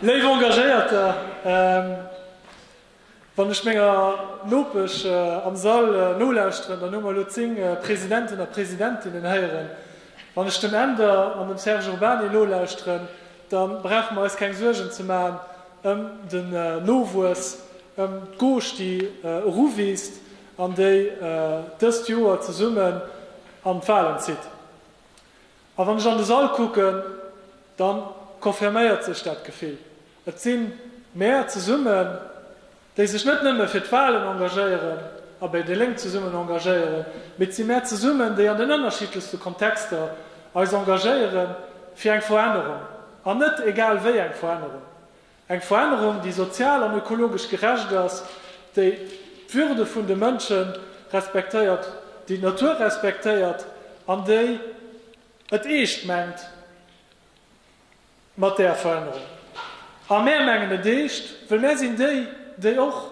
Léif Engagéierter, wann ech menger Nopesch am Sall nolauschteren, dann hu mer elo zéng Presidenten a Presidentinnen héieren. Wann ech dem Änder an dem Serge Urbany nolauschteren, da brauche mer eis keng Suergen ze maachen ëm den Nowuess, ëm d'Gauche, déi eruwiisst an déi dëst Joer zesummen an d'Walen zitt. A wann ech an de Sall kucken, da confirméiert sech dat Gefill. Et si mär zesummen, déi sech net nëmme fir d'Walen engagéieren a bei déi Lénk zesummen engagéieren, mee et si mär zesummen, déi an den ënnerschiddlechste Kontexter eis engagéiere fir eng Verännerung, an net egal wéi eng Verännerung. Eng Verännerung, déi sozial an ökologesch gerecht ass, déi d'Würde vun de Mënsche respektéiert, déi d'Natur respektéiert an déi et eescht mengt mat där Verännerung. A mär mengen et eescht, wëll mär sinn déi, déi och.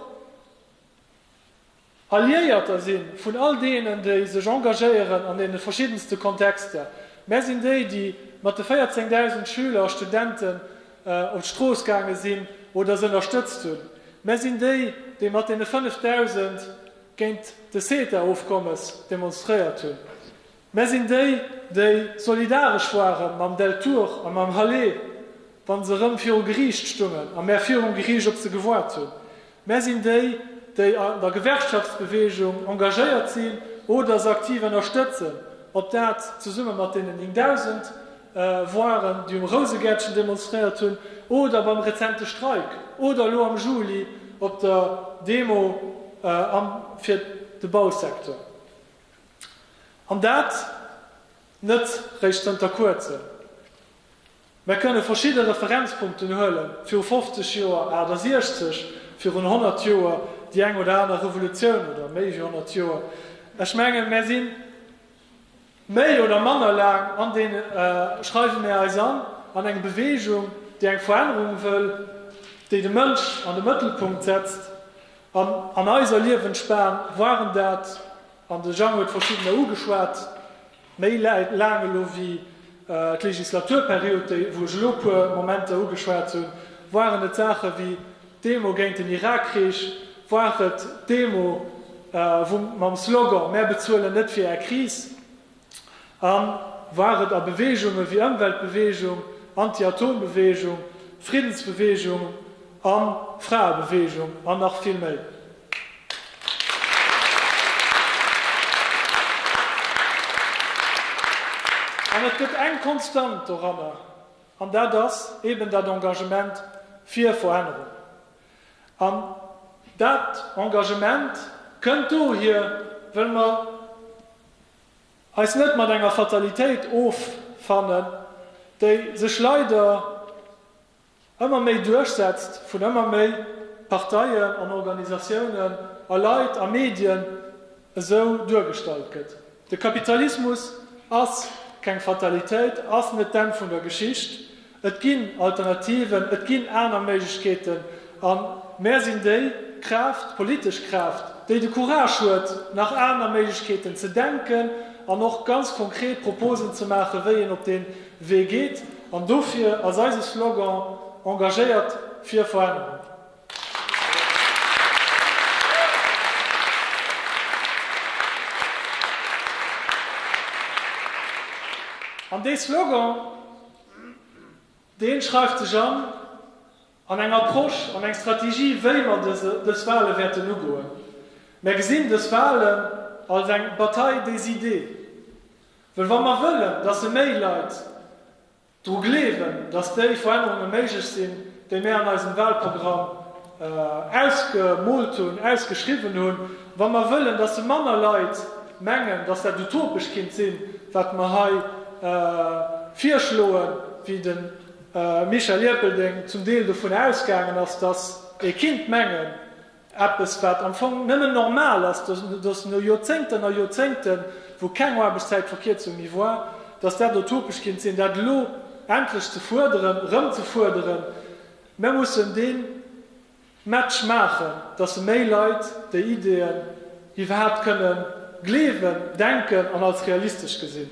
Alliéierter sinn, vun all deenen, déi sech engagéieren an deene verschiddenste Kontexter. Mär sinn déi, déi mat de 14.000 Schüler a Studenten op d'Strooss gaange sinn oder se ënnerstëtzt hunn. Mär sinn déi, déi mat deene 5.000 géint de CETA-Ofkommes demonstréiert hunn. Mär sinn déi, déi solidaresch ware mam Deltour a mam Halet, wa se erëm viru Geriicht stungen a mär virum Geriicht op se gewaart hunn. Mär sinn déi, déi an der Gewerkschaftsbeweegung engagéiert sinn oder se aktiv ënnerstëtzen, ob dat zesumme mat deenen 9.000 waren, déi um Rousegäertchen demonstréiert hunn, oder beim rezente Streik oder elo am Juli op der Demo fir de Bausecteur. An dat net réischt zënter Kuerzem. Mär kënne verschidde Referenzpunkten huelen, viru 50 Joer, 68, virun 100 Joer déi eng oder aner Revolutioun oder méi wéi 100 Joer. Ech mengen, mär si méi oder manner laang an deen, schreiwe mär eis an, an eng Beweegung, déi eng Verännerung wëll, déi de Mënsch an de Mëttelpunkt setzt, An an eiser Liewensbahn waren dat, an de Jean huet verschiddener ugeschwat, méi laang elo wéi d'Legislaturperiod, déi wou ech elo e puer Momenter ugeschwat hunn, waren et Saache wéi d'Demo géint den Irakkrich, war et d'Demo wou mam Slogan Mär bezuelen net fir Är Kris, A war et a Beweegunge wéi Ëmweltbeweegung, Anti-Atom-Beweegung, Friddensbeweegung a Fraebeweegung an nach vill méi. An et gëtt eng Konstant doranner, an dat ass eben dat Engagement fir Verännerung. An dat Engagement kënnt dohier, well mer eis net mat enger Fatalitéit offannen, déi sech leider ëmmer méi duerchsetzt, vun ëmmer méi Parteien an Organisatiounen a Leit a Medien esou duergestallt gëtt. De Kapitalismus ass keng Fatalitéit, ass net d'Enn vun der Geschicht, Et ginn Alternativen, et ginn aner Méiglechkeeten. A mär sinn déi Kraaft, d'politesch Kraaft, déi de Courage huet, nach aner Méiglechkeeten ze denken an och ganz konkret Proposen ze maachen, wéi een op dee Wee geet. An dofir ass eise Slogan Engagéiert fir Verännerung. An dee Slogan Deen schreift sech an an eng Approche, an eng Strategie, wéi mer dës Wale wäerten ugoen. Mer gesinn dës Walen als eng Bataille des idées, well wa mer wëllen, dass e méi Leit dru gleewen, dass déi Verännerunge méiglech sinn, déi mir an eisem Wahlprogramm ausgemoolt hunn, ausgeschriwwen hunn, wa mer wëllen, dass se manner Leit mengen, dass dat utopesch kinnt sinn, wat mer hei virschloen, wéi de Michel Ierpeldeng zum Deel dovun ausgaangen ass, dass ee kinnt mengen, Eppes wat am Fong nëmmen normal ass, dass no Joerzéngten a Joerzéngten, wou keng Aarbechtszäitverkierzung méi war, dass dat utopesch kinnt sinn, dat elo endlech ze fuerderen, erëm ze fuerderen. Mer mussen dee Match maachen, dass méi Leit déi Ideeën iwwerhaapt kënne gleewen, denken an als realistesch gesinn.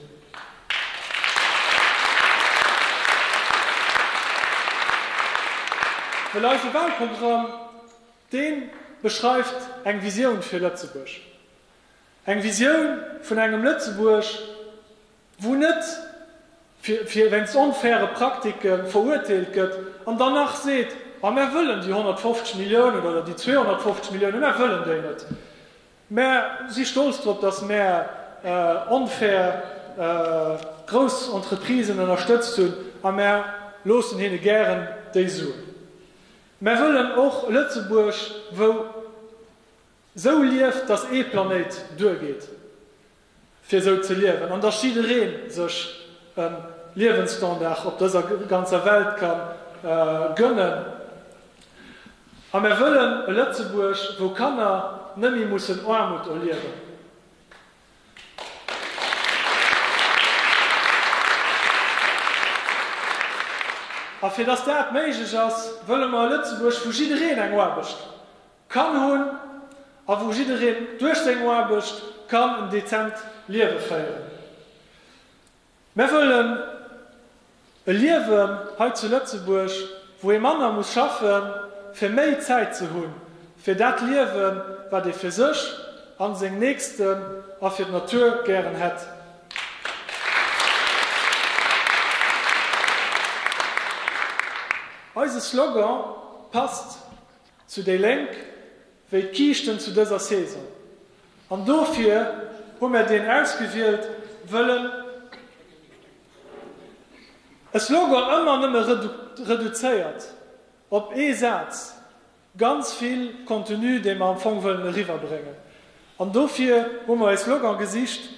Well eise Wahlprogramm Dee beschreift eng Visioun fir Lëtzebuerg, eng Visioun vun engem Lëtzebuerg, wou net fir wéinst onfaire Praktike verurteelt gëtt an dann nach seet, ma mär wëllen déi 150 Milliounen oder déi 250 Milliounen, mär wëllen déi net, mär si stolz drop, datt mär onfair grouss Entreprisen ënnerstëtzt hunn a mär loossen hinne gären déi Suen. Mär wëllen och e Lëtzebuerg wou sou lieft, datt ee Planéit duergeet fir sou ze liewen, an datt jidderee sech e Liewensstandard op dëser ganzer Welt ka gönnen. A mär wëllen e Lëtzebuerg wou Kanner net méi mussen Aarmut erliewen. A fir dass dat méiglech ass, wëlle mer e Lëtzebuerg, wou jiddereen eng Aarbecht kann hunn a wou jiddereen duerch seng Aarbecht kann en dezent Liewe féieren. Mär wëllen e Liewen hei zu Lëtzebuerg, wou ee manner muss schaffen, fir méi Zäit ze hunn fir dat Liewen, wat ee fir sech an seng Nächsten a fir d'Natur gären hätt. Eise Slogan passt. Zu déi Lénk wéi d'Kiischten zu dëser Saison. An dofir hu mär deen ausgewielt, wëll en e Slogan ëmmer nëmme reduzéiert op ee Saz, ganz vill Contenu, dee mer am Fong wëllen eriwwerbréngen. An dofir hu mer e Slogan gesicht.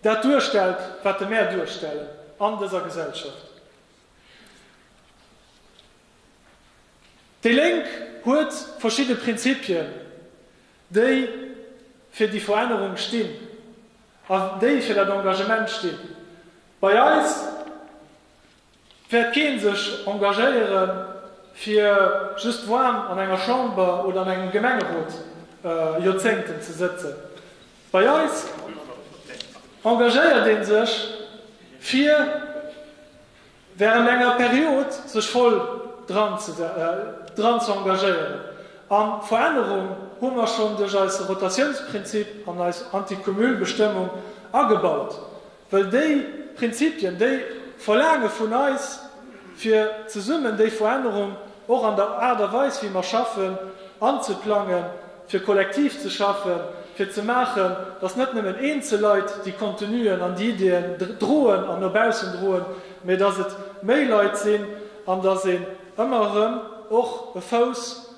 dat duerstellt, wat de Maire duerstellen an dëser Gesellschaft. Déi Lénk huet verschidde Prinzipien, déi fir déi Verännerung stinn a déi fir dat Engagement stinn. Bei eis. Wäert keen sech engagéiere fir just waarm an enger Chamber oder an engem Gemengerot Joerzéngten ze sëtzen. Bei eis engagéiert ee sech fir während enger Period sech voll dran ze engagéieren. A Verännerung hu mer schonn duerch eise Rotatiounsprinzip an eis Antikumulbestëmmung agebaut. Well déi Prinzipien, déi verlaange vun eis, fir zesummen déi Verännerung och an der Aart a Weis wéi mer schaffen anzeplangen, fir kollektiv ze schaffen, fir ze maachen, datt net nëmmen eenzel Leit déi Contenuen an déi Ideeën droen an no baussen droen, mä datt et méi Leit sinn an datt een ëmmer erëm och e Fouss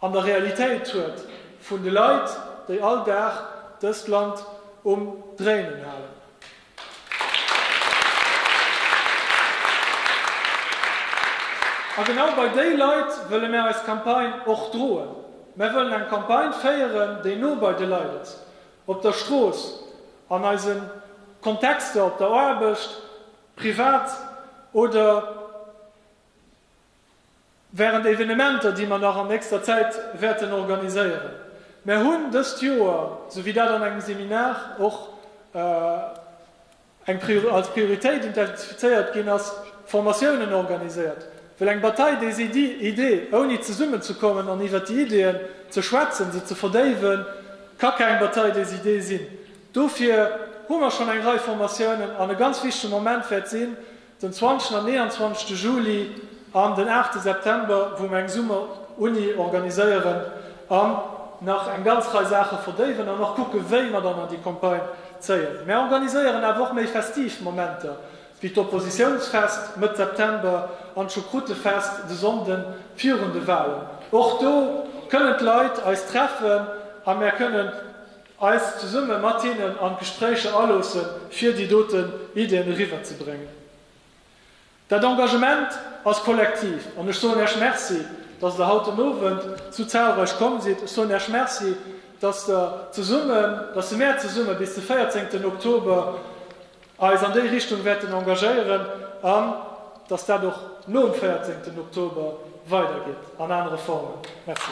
An der Realitéit huet vun de Leit, déi all Dag dëst Land um Dréinen halen, a genau bei déi Leit wëlle mär eis Campagne och droen, mär wëllen eng Campagne féieren, déi no bei de Leit ass, op der Strooss, an eise Kontexter, op der Aarbecht, privat oder Während Evenementer, déi mer nach an nächster Zäit wäerten organiséieren. Mer hunn dëst Joer, sou wéi dat an engem Seminar och als Prioritéit identifizéiert ginn ass, Formatiounen organiséiert, wëll eng Bataille des idées, ouni zesummen ze kommen an iwwert déi Ideeën ze schwätzen, se ze verdéiwen, ka keng Bataille des idées sinn. Dofir hu mer schonn eng Rei Formatiounen an e ganz wichtege Moment wäert sinn, Den 20 an 29 Juli an den 8 September wou mer eng Summer Uni organiséieren an nach eng ganz Rei Saache verdéiwen an och kucke wéi mer dann an déi Campagne zéien. Mer organiséieren awer och méi festiv Momenter wéi d'Oppositiounsfest Mëtt September an d'Choucroutefest de Sonnden virun de Wahlen. Och do kënnen d'Leit eis treffen a mer kënnen. eis zesumme mat hinnen an d'Gespréicher aloosse fir déi doten Ideen eriwwer ze bréngen. Dat Engagement ass kollektiv an ech soen Iech Merci, dass Der haut den Owend sou zahlreich komm sidd. Ech soen Iech Merci, dass Der zesummen, dass se mär zesumme bis de 14ten Oktober Eis an déi Richtung wäerten engagéieren an dass dat och nom 14 Oktober weidergeet an anere Formen. Merci.